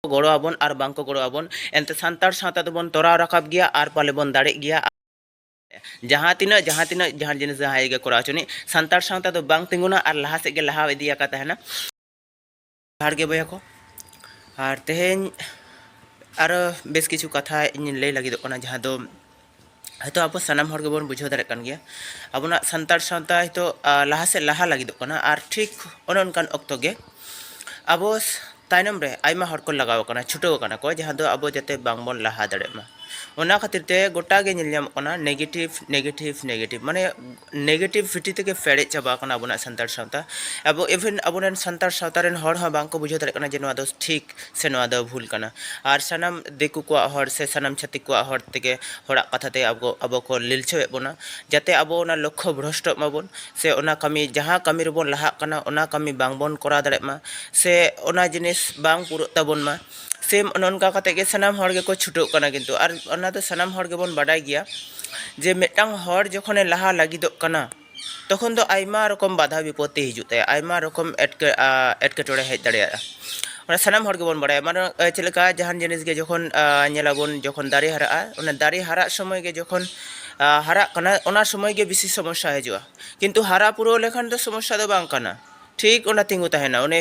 ᱜᱚᱲᱚ ᱟᱵᱚᱱ ᱟᱨ ᱵᱟᱝ ᱠᱚ ᱜᱚᱲᱚ ᱟᱵᱚᱱ ᱮᱱᱛᱮ ᱥᱟᱱᱛᱟᱲ ᱥᱟᱶᱛᱟ ᱫᱚᱵᱚᱱ ᱛᱚᱨᱟᱣ ᱨᱟᱠᱟᱵ ᱜᱮᱭᱟ ᱟᱨ ᱯᱟᱞᱮ ᱵᱚᱱ ᱫᱟᱲᱮᱜ ᱜᱮᱭᱟ ᱡᱟᱦᱟᱸ ᱛᱤᱱᱟᱹᱜ ᱡᱟᱦᱟᱸ ᱛᱤᱱᱟᱹᱜ ᱡᱟᱦᱟᱸ ᱡᱤᱱᱤᱥ ᱡᱟᱦᱟᱸᱭ ᱜᱮ ᱠᱚᱨᱟᱣ ᱦᱚᱪᱚᱱᱤᱡ ᱥᱟᱱᱛᱟᱲ ᱥᱟᱶᱛᱟ ᱫᱚ ᱵᱟᱝ ᱛᱤᱸᱜᱩᱱᱟ ᱟᱨ ᱞᱟᱦᱟ ᱥᱮᱫ ᱜᱮ ᱞᱟᱦᱟ ᱤᱫᱤ ᱟᱠᱟ ᱛᱟᱦᱮᱱᱟ ᱡᱚᱦᱟᱨ ᱜᱮ ᱵᱚᱭᱦᱟ ᱠᱚ ᱟᱨ ᱛᱮᱦᱮᱧ ᱟᱨᱚ ᱵᱮᱥ ᱠᱤᱪᱷᱩ ᱠᱟᱛᱷᱟ ᱤᱧ ᱞᱟᱹᱭ ᱞᱟᱹᱜᱤᱫᱚᱜ ᱠᱟᱱᱟ ᱡᱟᱦᱟᱸ ᱫᱚ ᱦᱚᱭᱛᱳ ᱟᱵᱚ ᱥᱟᱱᱟᱢ ᱦᱚᱲ ᱜᱮᱵᱚᱱ ᱵᱩᱡᱷᱟᱹᱣ ᱫᱟᱲᱮᱭᱟᱜ ᱠᱟᱱ ᱜᱮᱭᱟ ᱟᱵᱚᱱᱟᱜ ᱥᱟᱱᱛᱟᱲ ᱥᱟᱶᱛᱟ ᱦᱚᱭᱛᱳ ᱞᱟᱦᱟ ᱥᱮᱫ ᱞᱟᱦᱟ ᱞᱟᱹᱜᱤᱫᱚᱜ ᱠᱟᱱᱟ ᱟᱨ ᱴᱷᱤᱠ ᱚᱱᱮ ᱚᱱᱠᱟᱱ ᱚᱠᱛᱚ ᱜᱮ ᱟᱵᱚ ᱛᱟᱭᱱᱚᱢ ᱨᱮ ᱟᱭᱢᱟ ᱦᱚᱲ ᱠᱚ ᱞᱟᱜᱟᱣ ᱟᱠᱟᱱᱟ ᱪᱷᱩᱴᱟᱹᱣ ᱟᱠᱟᱱᱟ ᱠᱚ ᱡᱟᱦᱟᱸ ᱫᱚ ᱟᱵᱚ ᱡᱟᱛᱮ ᱵᱟᱝᱵᱚᱱ ᱞᱟᱦᱟ ᱫᱟᱲᱮᱭᱟᱜ ᱢᱟ ᱚᱱᱟ ᱠᱷᱟᱹᱛᱤᱨ ᱛᱮ ᱜᱚᱴᱟ ᱜᱮ ᱧᱮᱞ ᱧᱟᱢᱚᱜ ᱠᱟᱱᱟ ᱱᱮᱜᱮᱴᱤᱵᱷ ᱱᱮᱜᱮᱴᱤᱵᱷ ᱱᱮᱜᱮᱴᱤᱵᱷ ᱢᱟᱱᱮ ᱱᱮᱜᱮᱴᱤᱵᱷ ᱵᱷᱤᱴᱤ ᱛᱮᱜᱮ ᱯᱮᱨᱮᱡ ᱪᱟᱵᱟ ᱟᱠᱟᱱᱟ ᱟᱵᱚᱱᱟᱜ ᱥᱟᱱᱛᱟᱲ ᱥᱟᱶᱛᱟ ᱟᱵᱚ ᱤᱵᱷᱮᱱ ᱟᱵᱚᱨᱮᱱ ᱥᱟᱱᱛᱟᱲ ᱥᱟᱶᱛᱟ ᱨᱮᱱ ᱦᱚᱲ ᱦᱚᱸ ᱵᱟᱝᱠᱚ ᱵᱩᱡᱷᱟᱹᱣ ᱫᱟᱲᱮᱭᱟᱜ ᱠᱟᱱᱟ ᱡᱮ ᱱᱚᱣᱟ ᱫᱚ ᱴᱷᱤᱠ ᱥᱮ ᱱᱚᱣᱟ ᱫᱚ ᱵᱷᱩᱞ ᱠᱟᱱᱟ ᱟᱨ ᱥᱟᱱᱟᱢ ᱫᱤᱠᱩ ᱠᱚᱣᱟᱜ ᱦᱚᱲ ᱥᱮ ᱥᱟᱱᱟᱢ ᱪᱷᱟᱹᱛᱤᱠ ᱠᱚᱣᱟᱜ ᱦᱚᱲ ᱛᱮᱜᱮ ᱦᱚᱲᱟᱜ ᱠᱟᱛᱷᱟ ᱛᱮ ᱟᱵᱚ ᱟᱵᱚ ᱠᱚ ᱞᱤᱞᱪᱟᱹᱣᱮᱫ ᱵᱚᱱᱟ ᱡᱟᱛᱮ ᱟᱵᱚ ᱚᱱᱟ ᱞᱚᱠᱠᱷᱚ ᱵᱷᱨᱚᱥᱴᱚᱜ ᱢᱟᱵᱚᱱ ᱥᱮ ᱚᱱᱟ ᱠᱟᱹᱢᱤ ᱡᱟᱦᱟᱸ ᱠᱟᱹᱢᱤ ᱨᱮᱵᱚᱱ ᱞᱟᱦᱟᱜ ᱠᱟᱱᱟ ᱚᱱᱟ ᱠᱟᱹᱢᱤ ᱵᱟᱝᱵᱚᱱ ᱠᱚᱨᱟᱣ ᱫᱟᱲᱮᱭᱟᱜ ᱢᱟ ᱥᱮ ᱚᱱᱟ ᱡᱤᱱᱤᱥ ᱵᱟᱝ ᱯᱩᱨᱟᱹᱜ ᱛᱟᱵᱚᱱ ᱢᱟ ᱥᱮᱢ ᱱᱚᱝᱠᱟ ᱠᱟᱛᱮ ᱜᱮ ᱥᱟᱱᱟᱢ ᱦᱚᱲ ᱜᱮᱠᱚ ᱪᱷᱩᱴᱟᱹᱜ ᱠᱟᱱᱟ ᱠᱤᱱᱛᱩ ᱟᱨ ᱚᱱᱟ ᱫᱚ ᱥᱟᱱᱟᱢ ᱦᱚᱲ ᱜᱮᱵᱚᱱ ᱵᱟᱰᱟᱭ ᱜᱮᱭᱟ ᱡᱮ ᱢᱤᱫᱴᱟᱝ ᱦᱚᱲ ᱡᱚᱠᱷᱚᱱᱮ ᱞᱟᱦᱟ ᱞᱟᱹᱜᱤᱫᱚᱜ ᱠᱟᱱᱟ ᱛᱚᱠᱷᱚᱱ ᱫᱚ ᱟᱭᱢᱟ ᱨᱚᱠᱚᱢ ᱵᱟᱫᱷᱟ ᱵᱤᱯᱚᱛᱛᱤ ᱦᱤᱡᱩᱜ ᱛᱟᱭᱟ ᱟᱭᱢᱟ ᱨᱚᱠᱚᱢ ᱮᱴᱠᱮ ᱮᱴᱠᱮᱴᱚᱬᱮ ᱦᱮᱡ ᱫᱟᱲᱮᱭᱟᱜᱼᱟ ᱚᱱᱟ ᱥᱟᱱᱟᱢ ᱦᱚᱲ ᱜᱮᱵᱚᱱ ᱵᱟᱲᱟᱭᱟ ᱢᱟᱱᱮ ᱪᱮᱫ ᱞᱮᱠᱟ ᱡᱟᱦᱟᱱ ᱡᱤᱱᱤᱥ ᱜᱮ ᱡᱚᱠᱷᱚᱱ ᱧᱮᱞᱟᱵᱚᱱ ᱡᱚᱠᱷᱚᱱ ᱫᱟᱨᱮ ᱦᱟᱨᱟᱜᱼᱟ ᱚᱱᱟ ᱫᱟᱨᱮ ᱦᱟᱨᱟᱜ ᱥᱚᱢᱚᱭ ᱜᱮ ᱡᱚᱠᱷᱚᱱ ᱦᱟᱨᱟᱜ ᱠᱟᱱᱟ ᱚᱱᱟ ᱥᱚᱢᱚᱭ ᱜᱮ ᱵᱮᱥᱤ ᱥᱚᱢᱚᱥᱥᱟ ᱦᱤᱡᱩᱜᱼᱟ ᱠᱤᱱᱛᱩ ᱦᱟᱨᱟ ᱯᱩᱨᱟᱹᱣ ᱞᱮᱠᱷᱟᱱ ᱫᱚ ᱥᱚᱢᱚᱥᱥᱟ ᱫᱚ ᱵᱟᱝ ᱠᱟᱱᱟ ᱴᱷᱤᱠ ᱚᱱᱟ ᱛᱤᱸᱜᱩ ᱛᱟᱦᱮᱱᱟ ᱩᱱᱤ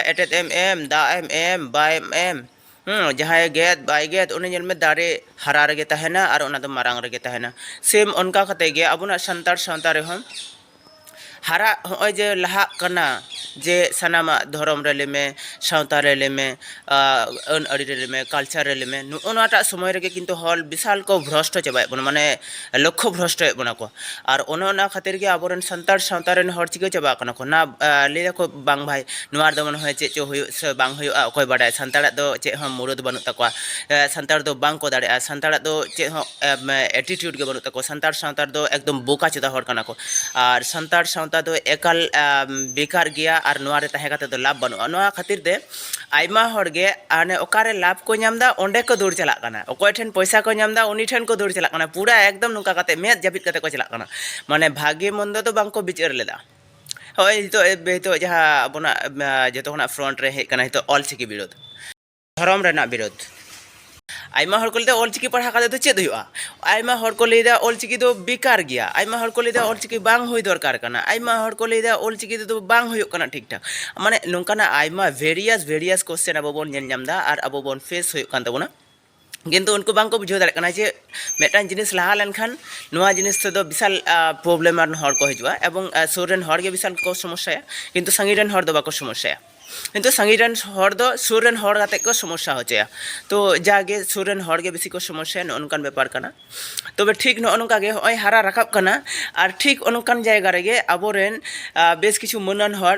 ᱮᱴᱮᱫ ᱮᱢ ᱮᱢ ᱫᱟᱜ ᱮᱢ ᱮᱢ ᱵᱟᱭ ᱮᱢ ᱡᱟᱦᱟᱸᱭ ᱜᱮᱫ ᱵᱟᱭ ᱜᱮᱫ ᱩᱱᱤ ᱧᱮᱞ ᱢᱮ ᱫᱟᱨᱮ ᱦᱟᱨᱟ ᱨᱮᱜᱮ ᱛᱟᱦᱮᱱᱟ ᱟᱨ ᱚᱱᱟ ᱫᱚ ᱢᱟᱨᱟᱝ ᱨᱮᱜᱮ ᱛᱟᱦᱮᱱᱟ ᱥᱮᱢ ᱚᱱᱠᱟ ᱠᱟᱛᱮ ᱜᱮ ᱟᱵᱚᱱᱟᱜ ᱥᱟᱱᱛᱟᱲ ᱥᱟᱶᱛᱟ ᱨᱮᱦᱚᱸ ᱦᱟᱨᱟᱜ ᱦᱚᱸᱜᱼᱚᱭ ᱡᱮ ᱞᱟᱦᱟᱜ ᱠᱟᱱᱟ ᱡᱮ ᱥᱟᱱᱟᱢᱟᱜ ᱫᱷᱚᱨᱚᱢ ᱨᱮ ᱞᱟᱹᱭ ᱢᱮ ᱥᱟᱶᱛᱟ ᱨᱮ ᱞᱟᱹᱭ ᱢᱮ ᱟᱹᱱ ᱟᱹᱨᱤ ᱨᱮ ᱞᱟᱹᱭᱢᱮ ᱠᱟᱞᱪᱟᱨ ᱨᱮ ᱞᱟᱹᱭᱢᱮ ᱱᱚᱜᱼᱚ ᱱᱚᱣᱟᱴᱟᱜ ᱥᱚᱢᱚᱭ ᱨᱮᱜᱮ ᱠᱤᱱᱛᱩ ᱦᱚᱲ ᱵᱤᱥᱟᱞ ᱠᱚ ᱵᱷᱨᱚᱥᱴᱚ ᱪᱟᱵᱟᱭᱮᱫ ᱵᱚᱱᱟ ᱢᱟᱱᱮ ᱞᱚᱠᱠᱷᱚ ᱵᱷᱨᱚᱥᱴᱚᱭᱮᱫ ᱵᱚᱱᱟ ᱠᱚ ᱟᱨ ᱚᱱᱮ ᱚᱱᱟ ᱠᱷᱟᱹᱛᱤᱨ ᱜᱮ ᱟᱵᱚ ᱨᱮᱱ ᱥᱟᱱᱛᱟᱲ ᱥᱟᱶᱛᱟ ᱨᱮᱱ ᱦᱚᱲ ᱪᱤᱠᱟᱹ ᱪᱟᱵᱟᱜ ᱠᱟᱱᱟ ᱠᱚ ᱱᱟ ᱞᱟᱹᱭ ᱫᱟᱠᱚ ᱵᱟᱝ ᱵᱷᱟᱭ ᱱᱚᱣᱟ ᱨᱮᱫᱚ ᱢᱚᱱᱮ ᱦᱚᱭ ᱪᱮᱫ ᱪᱚ ᱦᱩᱭᱩᱜ ᱥᱮ ᱵᱟᱝ ᱦᱩᱭᱩᱜᱼᱟ ᱚᱠᱚᱭ ᱵᱟᱰᱟᱭ ᱥᱟᱱᱛᱟᱲᱟᱜ ᱫᱚ ᱪᱮᱫ ᱦᱚᱸ ᱢᱩᱨᱟᱹᱫ ᱵᱟᱹᱱᱩᱜ ᱛᱟᱠᱚᱣᱟ ᱥᱟᱱᱛᱟᱲ ᱫᱚ ᱵᱟᱝ ᱠᱚ ᱫᱟᱲᱮᱭᱟᱜᱼᱟ ᱥᱟᱱᱛᱟᱲᱟᱜ ᱫᱚ ᱪᱮᱫ ᱦᱚᱸ ᱮᱴᱤᱴᱤᱭᱩᱰ ᱜᱮ ᱵᱟᱹᱱᱩᱜ ᱛᱟᱠᱚᱣᱟ ᱥᱟᱱᱛᱟᱲ ᱥᱟᱶᱛᱟ ᱨᱮᱫᱚ ᱮᱠᱫᱚᱢ ᱵᱳᱠᱟ ᱪᱮᱫᱟ ᱦᱚᱲ ᱠᱟᱱᱟ ᱠᱚ ᱟᱨ ᱥᱟᱱᱛᱟᱲ ᱥᱟᱶᱛᱟ ᱫᱚ ᱮᱠᱟᱞ ᱵᱮᱠᱟᱨ ᱜᱮᱭᱟ ᱟᱨ ᱱᱚᱣᱟ ᱨᱮ ᱛᱟᱦᱮᱸ ᱠᱟᱛᱮᱫ ᱫᱚ ᱞᱟᱵᱷ ᱵᱟᱹᱱᱩᱜᱼᱟ ᱱᱚᱣᱟ ᱠᱷᱟᱹᱛᱤᱨ ᱛᱮ ᱟᱭᱢᱟ ᱦᱚᱲ ᱜᱮ ᱦᱟᱱᱮ ᱚᱠᱟᱨᱮ ᱞᱟᱵᱷ ᱠᱚ ᱧᱟᱢ ᱮᱫᱟ ᱚᱸᱰᱮ ᱠᱚ ᱫᱟᱹᱲ ᱪᱟᱞᱟᱜ ᱠᱟᱱᱟ ᱚᱠᱚᱭ ᱴᱷᱮᱱ ᱯᱚᱭᱥᱟ ᱠᱚ ᱧᱟᱢ ᱮᱫᱟ ᱩᱱᱤ ᱴᱷᱮᱱ ᱠᱚ ᱫᱟᱹᱲ ᱪᱟᱞᱟᱜ ᱠᱟᱱᱟ ᱯᱩᱨᱟᱹ ᱮᱠᱫᱚᱢ ᱱᱚᱝᱠᱟ ᱠᱟᱛᱮ ᱢᱮᱫ ᱡᱟᱹᱯᱤᱫ ᱠᱟᱛᱮ ᱠᱚ ᱪᱟᱞᱟᱜ ᱠᱟᱱᱟ ᱢᱟᱱᱮ ᱵᱷᱟᱜᱮ ᱢᱚᱱᱫᱚ ᱫᱚ ᱵᱟᱝ ᱠᱚ ᱵᱤᱪᱟᱹᱨ ᱞᱮᱫᱟ ᱦᱚᱸᱜᱼᱚᱭ ᱱᱤᱛᱚᱜ ᱱᱤᱛᱚᱜ ᱡᱟᱦᱟᱸ ᱟᱵᱚᱱᱟᱜ ᱡᱚᱛᱚ ᱠᱷᱚᱱᱟᱜ ᱯᱷᱨᱚᱱᱴ ᱨᱮ ᱦᱮᱡ ᱠᱟᱱᱟ ᱱᱤᱛᱚᱜ ᱚᱞᱪᱤᱠᱤ ᱵᱤᱨᱩᱫᱽ ᱫᱷᱚᱨᱚᱢ ᱨᱮᱱᱟᱜ ᱵᱤᱨᱩᱫᱽ ᱟᱭᱢᱟ ᱦᱚᱲ ᱠᱚ ᱞᱟᱹᱭᱫᱟ ᱚᱞᱪᱤᱠᱤ ᱯᱟᱲᱦᱟᱣ ᱠᱟᱛᱮ ᱫᱚ ᱪᱮᱫ ᱦᱩᱭᱩᱜᱼᱟ ᱟᱭᱢᱟ ᱦᱚᱲ ᱠᱚ ᱞᱟᱹᱭᱫᱟ ᱚᱞᱪᱤᱠᱤ ᱫᱚ ᱵᱮᱠᱟᱨ ᱜᱮᱭᱟ ᱟᱭᱢᱟ ᱦᱚᱲ ᱠᱚ ᱞᱟᱹᱭᱫᱟ ᱚᱞᱪᱤᱠᱤ ᱵᱟᱝ ᱦᱩᱭ ᱫᱚᱨᱠᱟᱨ ᱠᱟᱱᱟ ᱟᱭᱢᱟ ᱦᱚᱲ ᱠᱚ ᱞᱟᱹᱭᱫᱟ ᱚᱞᱪᱤᱠᱤ ᱛᱮᱫᱚ ᱵᱟᱝ ᱦᱩᱭᱩᱜ ᱠᱟᱱᱟ ᱴᱷᱤᱠ ᱴᱷᱟᱠ ᱢᱟᱱᱮ ᱱᱚᱝᱠᱟᱱᱟᱜ ᱟᱭᱢᱟ ᱵᱷᱮᱨᱤᱭᱟᱥ ᱵᱷᱮᱨᱤᱭᱟᱥ ᱠᱚᱥᱪᱮᱱ ᱟᱵᱚ ᱵᱚᱱ ᱧᱮᱞ ᱧᱟᱢᱫᱟ ᱟᱨ ᱟᱵᱚ ᱵᱚᱱ ᱯᱷᱮᱥ ᱦᱩᱭᱩᱜ ᱠᱟᱱ ᱛᱟᱵᱚᱱᱟ ᱠᱤᱱᱛᱩ ᱩᱱᱠᱩ ᱵᱟᱝᱠᱚ ᱵᱩᱡᱷᱟᱹᱣ ᱫᱟᱲᱮᱭᱟᱜ ᱠᱟᱱᱟ ᱡᱮ ᱢᱤᱫᱴᱟᱝ ᱡᱤᱱᱤᱥ ᱞᱟᱦᱟ ᱞᱮᱱᱠᱷᱟᱱ ᱱᱚᱣᱟ ᱡᱤᱱᱤᱥ ᱛᱮᱫᱚ ᱵᱤᱥᱟᱞ ᱯᱨᱚᱵᱞᱮᱢ ᱟᱱ ᱦᱚᱲ ᱠᱚ ᱦᱤᱡᱩᱜᱼᱟ ᱮᱵᱚᱝ ᱥᱩᱨ ᱨᱮᱱ ᱦᱚᱲᱜᱮ ᱵᱤᱥᱟᱞ ᱠᱚ ᱥᱚᱢᱚᱥᱥᱟᱭᱟ ᱠᱤᱱᱛᱩ ᱥᱟᱺᱜᱤᱧ ᱨᱮᱱ ᱦᱚᱲ ᱫᱚ ᱵᱟᱠᱚ ᱥᱚᱢᱚᱥᱥᱟᱭᱟ ᱠᱤᱱᱛᱩ ᱥᱟᱺᱜᱤᱧ ᱨᱮᱱ ᱦᱚᱲ ᱫᱚ ᱥᱩᱨ ᱨᱮᱱ ᱦᱚᱲ ᱠᱟᱛᱮ ᱠᱚ ᱥᱚᱢᱚᱥᱥᱟ ᱦᱚᱪᱚᱭᱟ ᱛᱚ ᱡᱟᱜᱮ ᱥᱩᱨ ᱨᱮᱱ ᱦᱚᱲ ᱜᱮ ᱵᱮᱥᱤ ᱠᱚ ᱥᱚᱢᱚᱥᱥᱟᱭᱟ ᱱᱚᱜᱼᱚ ᱱᱚᱝᱠᱟᱱ ᱵᱮᱯᱟᱨ ᱠᱟᱱᱟ ᱛᱚᱵᱮ ᱴᱷᱤᱠ ᱱᱚᱜᱼᱚ ᱱᱚᱝᱠᱟ ᱜᱮ ᱦᱚᱸᱜᱼᱚᱭ ᱦᱟᱨᱟ ᱨᱟᱠᱟᱵ ᱠᱟᱱᱟ ᱟᱨ ᱴᱷᱤᱠ ᱚᱱᱠᱟᱱ ᱡᱟᱭᱜᱟ ᱨᱮᱜᱮ ᱟᱵᱚᱨᱮᱱ ᱵᱮᱥ ᱠᱤᱪᱷᱩ ᱢᱟᱹᱱᱟᱱ ᱦᱚᱲ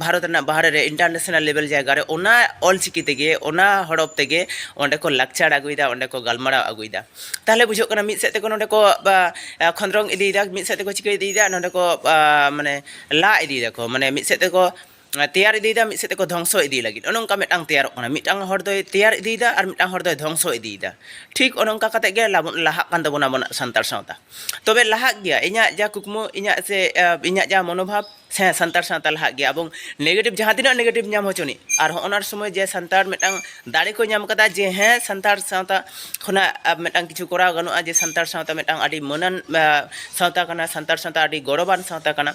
ᱵᱷᱟᱨᱚᱛ ᱨᱮᱱᱟᱜ ᱵᱟᱦᱨᱮ ᱨᱮ ᱤᱱᱴᱟᱨᱱᱮᱥᱱᱟᱞ ᱞᱮᱵᱮᱞ ᱡᱟᱭᱜᱟ ᱨᱮ ᱚᱱᱟ ᱚᱞᱪᱤᱠᱤ ᱛᱮᱜᱮ ᱚᱱᱟ ᱦᱚᱲᱚᱯ ᱛᱮᱜᱮ ᱚᱸᱰᱮ ᱠᱚ ᱞᱟᱠᱪᱟᱨ ᱟᱹᱜᱩᱭᱮᱫᱟ ᱚᱸᱰᱮ ᱠᱚ ᱜᱟᱞᱢᱟᱨᱟᱣ ᱟᱹᱜᱩᱭᱮᱫᱟ ᱛᱟᱦᱞᱮ ᱵᱩᱡᱷᱟᱹᱜ ᱠᱟᱱᱟ ᱢᱤᱫ ᱥᱮᱫ ᱛᱮᱠᱚ ᱱᱚᱸᱰᱮ ᱠᱚ ᱠᱷᱚᱸᱫᱽᱨᱚᱝ ᱤᱫᱤᱭᱮᱫᱟ ᱢᱤᱫ ᱥᱮᱫ ᱛᱮᱠᱚ ᱪᱤᱠᱟᱹ ᱤᱫᱤᱭᱮᱫᱟ ᱱᱚᱸᱰᱮ ᱠᱚ ᱢᱟᱱᱮ ᱞᱟ ᱤᱫᱤᱭ ᱫᱟᱠᱚ ᱢᱟᱱᱮ ᱢᱤᱫ ᱥᱮᱫ ᱛᱮᱠᱚ ᱛᱮᱭᱟᱨ ᱤᱫᱤᱭᱮᱫᱟ ᱢᱤᱫ ᱥᱮᱫ ᱛᱮᱠᱚ ᱫᱷᱚᱝᱥᱚ ᱤᱫᱤ ᱞᱟᱹᱜᱤᱫ ᱚᱱᱮ ᱚᱱᱠᱟ ᱢᱤᱫᱴᱟᱝ ᱛᱮᱭᱟᱨᱚᱜ ᱠᱟᱱᱟ ᱢᱤᱫᱴᱟᱝ ᱦᱚᱲ ᱫᱚᱭ ᱛᱮᱭᱟᱨ ᱤᱫᱤᱭᱮᱫᱟ ᱟᱨ ᱢᱤᱫᱴᱟᱝ ᱦᱚᱲ ᱫᱚᱭ ᱫᱷᱚᱝᱥᱚ ᱤᱫᱤᱭᱮᱫᱟ ᱴᱷᱤᱠ ᱚᱱᱮ ᱚᱱᱠᱟ ᱠᱟᱛᱮ ᱜᱮ ᱞᱟᱦᱟᱜ ᱠᱟᱱ ᱛᱟᱵᱚᱱᱟ ᱟᱵᱚᱱᱟᱜ ᱥᱟᱱᱛᱟᱲ ᱥᱟᱶᱛᱟ ᱛᱚᱵᱮ ᱞᱟᱦᱟᱜ ᱜᱮᱭᱟ ᱤᱧᱟᱹᱜ ᱡᱟ ᱠᱩᱠᱢᱩ ᱤᱧᱟᱹᱜ ᱥᱮ ᱤᱧᱟᱹᱜ ᱡᱟ ᱢᱚᱱᱳᱵᱷᱟᱵ ᱥᱮ ᱥᱟᱱᱛᱟᱲ ᱥᱟᱶᱛᱟ ᱞᱟᱦᱟᱜ ᱜᱮᱭᱟ ᱮᱵᱚᱝ ᱱᱮᱜᱮᱴᱤᱵᱷ ᱡᱟᱦᱟᱸ ᱛᱤᱱᱟᱹᱜ ᱱᱮᱜᱮᱴᱤᱵᱷ ᱧᱟᱢ ᱦᱚᱪᱚᱱᱤᱡ ᱟᱨ ᱦᱚᱸᱜᱼᱚ ᱱᱚᱣᱟ ᱥᱚᱢᱚᱭ ᱡᱮ ᱥᱟᱱᱛᱟᱲ ᱢᱤᱫᱴᱟᱝ ᱫᱟᱲᱮ ᱠᱚ ᱧᱟᱢ ᱠᱟᱫᱟ ᱡᱮ ᱦᱮᱸ ᱥᱟᱱᱛᱟᱲ ᱥᱟᱶᱛᱟ ᱠᱷᱚᱱᱟᱜ ᱢᱤᱫᱴᱟᱝ ᱠᱤᱪᱷᱩ ᱠᱚᱨᱟᱣ ᱜᱟᱱᱚᱜᱼᱟ ᱡᱮ ᱥᱟᱱᱛᱟᱲ ᱥᱟᱶᱛᱟ ᱢᱤᱫᱴᱟᱝ ᱟᱹᱰᱤ ᱢᱟᱹᱱᱟᱱ ᱥᱟᱶᱛᱟ ᱠᱟᱱᱟ ᱥᱟᱱᱛᱟᱲ ᱥᱟᱶᱛᱟ ᱟᱹᱰᱤ ᱜᱚᱨᱚᱵᱟᱱ ᱥᱟᱶᱛᱟ ᱠᱟᱱᱟ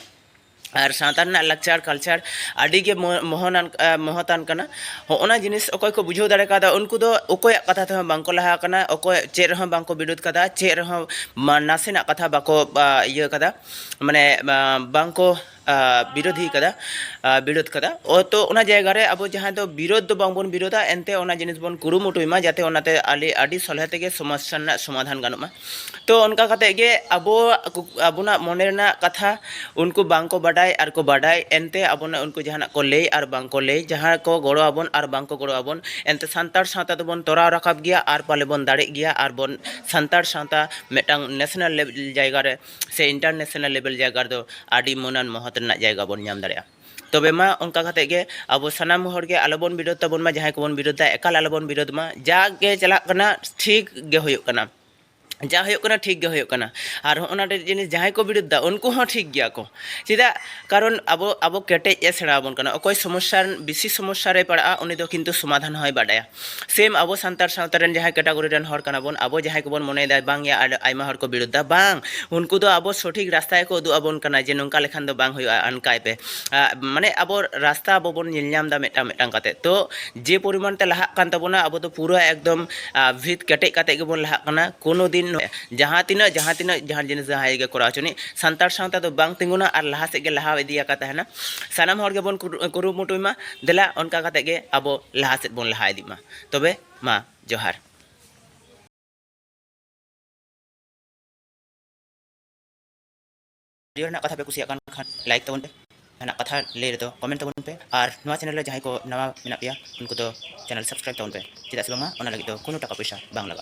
ᱟᱨ ᱥᱟᱶᱛᱟ ᱨᱮᱱᱟᱜ ᱞᱟᱠᱪᱟᱨ ᱠᱟᱞᱪᱟᱨ ᱟᱹᱰᱤ ᱜᱮ ᱢᱚᱦᱚᱱᱟᱱ ᱢᱚᱦᱚᱛᱟᱱ ᱠᱟᱱᱟ ᱦᱚᱸᱜᱼᱱᱟ ᱡᱤᱱᱤᱥ ᱚᱠᱚᱭ ᱠᱚ ᱵᱩᱡᱷᱟᱹᱣ ᱫᱟᱲᱮ ᱠᱟᱣᱫᱟ ᱩᱱᱠᱩ ᱫᱚ ᱚᱠᱚᱭᱟᱜ ᱠᱟᱛᱷᱟ ᱛᱮᱦᱚᱸ ᱵᱟᱝ ᱠᱚ ᱞᱟᱦᱟ ᱟᱠᱟᱱᱟ ᱚᱠᱚᱭ ᱪᱮᱫ ᱨᱮᱦᱚᱸ ᱵᱟᱝ ᱠᱚ ᱵᱤᱨᱳᱫᱷ ᱠᱟᱫᱟ ᱪᱮᱫ ᱨᱮᱦᱚᱸ ᱱᱟᱥᱮᱱᱟᱜ ᱠᱟᱛᱷᱟ ᱵᱟᱠᱚ ᱤᱭᱟᱹ ᱠᱟᱫᱟ ᱢᱟᱱᱮ ᱵᱟᱝ ᱠᱚ ᱵᱤᱨᱳᱫᱷᱤ ᱠᱟᱫᱟ ᱵᱤᱨᱳᱫᱷ ᱠᱟᱫᱟ ᱛᱚ ᱚᱱᱟ ᱡᱟᱭᱜᱟ ᱨᱮ ᱟᱵᱚ ᱡᱟᱦᱟᱸ ᱫᱚ ᱵᱤᱨᱳᱫᱷ ᱫᱚ ᱵᱟᱝᱵᱚᱱ ᱵᱤᱨᱳᱫᱷᱟ ᱮᱱᱛᱮ ᱚᱱᱟ ᱡᱤᱱᱤᱥ ᱵᱚᱱ ᱠᱩᱨᱩᱢᱩᱴᱩᱭ ᱢᱟ ᱡᱟᱛᱮ ᱚᱱᱟᱛᱮ ᱟᱞᱮ ᱟᱹᱰᱤ ᱥᱚᱞᱦᱮ ᱛᱮᱜᱮ ᱥᱚᱢᱚᱥᱥᱟ ᱨᱮᱱᱟᱜ ᱥᱚᱢᱟᱫᱷᱟᱱ ᱜᱟᱱᱚᱜ ᱢᱟ ᱛᱚ ᱚᱱᱠᱟ ᱠᱟᱛᱮ ᱜᱮ ᱟᱵᱚ ᱟᱵᱚᱱᱟᱜ ᱢᱚᱱᱮ ᱨᱮᱱᱟᱜ ᱠᱟᱛᱷᱟ ᱩᱱᱠᱩ ᱵᱟᱝᱠᱚ ᱵᱟᱰᱟᱭ ᱟᱨ ᱠᱚ ᱵᱟᱰᱟᱭ ᱮᱱᱛᱮ ᱟᱵᱚᱱᱟᱜ ᱩᱱᱠᱩ ᱡᱟᱦᱟᱱᱟᱜ ᱠᱚ ᱞᱟᱹᱭ ᱟᱨ ᱵᱟᱝ ᱠᱚ ᱞᱟᱹᱭ ᱡᱟᱦᱟᱸ ᱠᱚ ᱜᱚᱲᱚ ᱟᱵᱚᱱ ᱟᱨ ᱵᱟᱝ ᱠᱚ ᱜᱚᱲᱚ ᱟᱵᱚᱱ ᱮᱱᱛᱮ ᱥᱟᱱᱛᱟᱲ ᱥᱟᱶᱛᱟ ᱫᱚᱵᱚᱱ ᱛᱚᱨᱟᱣ ᱨᱟᱠᱟᱵ ᱜᱮᱭᱟ ᱟᱨ ᱯᱟᱞᱮ ᱵᱚᱱ ᱫᱟᱲᱮᱜ ᱜᱮᱭᱟ ᱟᱨ ᱵᱚᱱ ᱥᱟᱱᱛᱟᱲ ᱥᱟᱶᱛᱟ ᱢᱤᱫᱴᱟᱝ ᱱᱮᱥᱱᱮᱞ ᱞᱮᱵᱮᱞ ᱡᱟᱭᱜᱟ ᱨᱮ ᱥᱮ ᱤᱱᱴᱟᱨᱱᱮᱥᱱᱟᱞ ᱞᱮᱵᱮᱞ ᱡᱟᱭᱜᱟ ᱨᱮᱫᱚ ᱟᱹᱰᱤ ᱢᱟᱹᱱᱟᱱ ᱢᱚᱦᱚᱛ ᱨᱮᱱᱟᱜ ᱡᱟᱭᱜᱟ ᱵᱚᱱ ᱧᱟᱢ ᱫᱟᱲᱮᱭᱟᱜᱼᱟ ᱛᱚᱵᱮ ᱢᱟ ᱚᱱᱠᱟ ᱠᱟᱛᱮ ᱜᱮ ᱟᱵᱚ ᱥᱟᱱᱟᱢ ᱦᱚᱲ ᱜᱮ ᱟᱞᱚ ᱵᱚᱱ ᱵᱤᱨᱳᱫᱷ ᱛᱟᱵᱚᱱ ᱢᱟ ᱡᱟᱦᱟᱸᱭ ᱠᱚᱵᱚᱱ ᱵᱤᱨᱳᱫᱷ ᱫᱟ ᱮᱠᱟᱞ ᱟᱞᱚ ᱵᱚᱱ ᱵᱤᱨᱳᱫᱷ ᱢᱟ ᱡᱟᱜᱮ ᱪᱟᱞᱟᱜ ᱠᱟᱱᱟ ᱴᱷᱤᱠ ᱜᱮ ᱦᱩᱭᱩᱜ ᱠᱟᱱᱟ ᱡᱟ ᱦᱩᱭᱩᱜ ᱠᱟᱱᱟ ᱴᱷᱤᱠ ᱜᱮ ᱦᱩᱭᱩᱜ ᱠᱟᱱᱟ ᱟᱨ ᱦᱚᱸᱜᱼᱚ ᱱᱚᱣᱟ ᱴᱟᱜ ᱡᱤᱱᱤᱥ ᱡᱟᱦᱟᱸᱭ ᱠᱚ ᱵᱤᱨᱳᱫᱷ ᱫᱟ ᱩᱱᱠᱩ ᱦᱚᱸ ᱴᱷᱤᱠ ᱜᱮᱭᱟ ᱠᱚ ᱪᱮᱫᱟᱜ ᱠᱟᱨᱚᱱ ᱟᱵᱚ ᱟᱵᱚ ᱠᱮᱴᱮᱡ ᱮ ᱥᱮᱬᱟ ᱟᱵᱚᱱ ᱠᱟᱱᱟ ᱚᱠᱚᱭ ᱥᱚᱢᱚᱥᱥᱟ ᱵᱮᱥᱤ ᱥᱚᱢᱚᱥᱥᱟ ᱨᱮᱭ ᱯᱟᱲᱟᱜᱼᱟ ᱩᱱᱤ ᱫᱚ ᱠᱤᱱᱛᱩ ᱥᱚᱢᱟᱫᱷᱟᱱ ᱦᱚᱸᱭ ᱵᱟᱰᱟᱭᱟ ᱥᱮᱢ ᱟᱵᱚ ᱥᱟᱱᱛᱟᱲ ᱥᱟᱶᱛᱟ ᱨᱮᱱ ᱡᱟᱦᱟᱸᱭ ᱠᱮᱴᱟᱜᱚᱨᱤ ᱨᱮᱱ ᱦᱚᱲ ᱠᱟᱱᱟ ᱵᱚᱱ ᱟᱵᱚ ᱡᱟᱦᱟᱸᱭ ᱠᱚᱵᱚᱱ ᱢᱚᱱᱮᱭᱮᱫᱟ ᱵᱟᱝ ᱭᱟ ᱟᱭᱢᱟ ᱦᱚᱲ ᱠᱚ ᱵᱤᱨᱩᱫᱷᱟ ᱵᱟᱝ ᱩᱱᱠᱩ ᱫᱚ ᱟᱵᱚ ᱥᱚᱴᱷᱤᱠ ᱨᱟᱥᱛᱟ ᱜᱮᱠᱚ ᱩᱫᱩᱜ ᱟᱵᱚᱱ ᱠᱟᱱᱟ ᱡᱮ ᱱᱚᱝᱠᱟ ᱞᱮᱠᱷᱟᱱ ᱫᱚ ᱵᱟᱝ ᱦᱩᱭᱩᱜᱼᱟ ᱦᱟᱱᱠᱟᱭ ᱯᱮ ᱢᱟᱱᱮ ᱟᱵᱚ ᱨᱟᱥᱛᱟ ᱟᱵᱚ ᱵᱚᱱ ᱧᱮᱞ ᱧᱟᱢ ᱮᱫᱟ ᱢᱤᱫᱴᱟᱝ ᱢᱤᱫᱴᱟᱝ ᱠᱟᱛᱮ ᱛᱚ ᱡᱮ ᱯᱚᱨᱤᱢᱟᱱ ᱛᱮ ᱞᱟᱦᱟᱜ ᱠᱟᱱ ᱛᱟᱵᱚᱱᱟ ᱟᱵᱚ ᱫᱚ ᱯᱩᱨᱟᱹ ᱮᱠᱫᱚᱢ ᱵᱷᱤᱛ ᱠᱮᱴᱮᱡ ᱠᱟᱛᱮ ᱜᱮᱵᱚᱱ ᱞᱟᱦᱟᱜ ᱠᱟᱱᱟ ᱠᱳᱱᱳ ᱫᱤᱱ ᱡᱟᱦᱟᱸ ᱛᱤᱱᱟᱹᱜ ᱡᱟᱦᱟᱸ ᱛᱤᱱᱟᱹᱜ ᱡᱟᱦᱟᱸ ᱡᱤᱱᱤᱥ ᱡᱟᱦᱟᱸᱭ ᱜᱮ ᱠᱚᱨᱟᱣ ᱦᱚᱪᱚᱱᱤᱡ ᱥᱟᱱᱛᱟᱲ ᱥᱟᱶᱛᱟ ᱫᱚ ᱵᱟᱝ ᱛᱤᱸᱜᱩᱱᱟ ᱟᱨ ᱞᱟᱦᱟ ᱥᱮᱫ ᱜᱮ ᱞᱟᱦᱟ ᱤᱫᱤ ᱟᱠᱟᱫ ᱛᱟᱦᱮᱱᱟ ᱥᱟᱱᱟᱢ ᱦᱚᱲ ᱜᱮᱵᱚᱱ ᱠᱩᱨᱩᱢᱩᱴᱩᱭ ᱢᱟ ᱫᱮᱞᱟ ᱚᱱᱠᱟ ᱠᱟᱛᱮ ᱜᱮ ᱟᱵᱚ ᱞᱟᱦᱟ ᱥᱮᱫ ᱵᱚᱱ ᱞᱟᱦᱟ ᱤᱫᱤᱜ ᱢᱟ ᱛᱚᱵᱮ ᱢᱟ ᱡᱚᱦᱟᱨ᱾ ᱵᱷᱤᱰᱤᱭᱳ ᱨᱮᱱᱟᱜ ᱠᱟᱛᱷᱟ ᱯᱮ ᱠᱩᱥᱤᱭᱟᱜ ᱠᱟᱱ ᱠᱷᱟᱱ ᱞᱟᱭᱤᱠ ᱛᱟᱵᱚᱱ ᱯᱮ, ᱡᱟᱦᱟᱱᱟᱜ ᱠᱟᱛᱷᱟ ᱞᱟᱹᱭ ᱨᱮᱫᱚ ᱠᱚᱢᱮᱱᱴ ᱛᱟᱵᱚᱱ ᱯᱮ ᱟᱨ ᱱᱚᱣᱟ ᱪᱮᱱᱮᱞ ᱨᱮ ᱡᱟᱦᱟᱸᱭ ᱠᱚ ᱱᱟᱣᱟ ᱢᱮᱱᱟᱜ ᱯᱮᱭᱟ ᱩᱱᱠᱩ ᱫᱚ ᱪᱮᱱᱮᱞ ᱥᱟᱵᱥᱠᱨᱟᱭᱤᱵ ᱛᱟᱵᱚᱱ ᱯᱮ ᱪᱮᱫᱟᱜ ᱥᱮ ᱵᱟᱝᱢᱟ ᱚᱱᱟ ᱞᱟᱹᱜᱤᱫ ᱫᱚ ᱠᱳᱱᱳ ᱴᱟᱠᱟ ᱯᱚᱭᱥᱟ ᱵᱟᱝ ᱞᱟᱜᱟᱜᱼᱟ᱾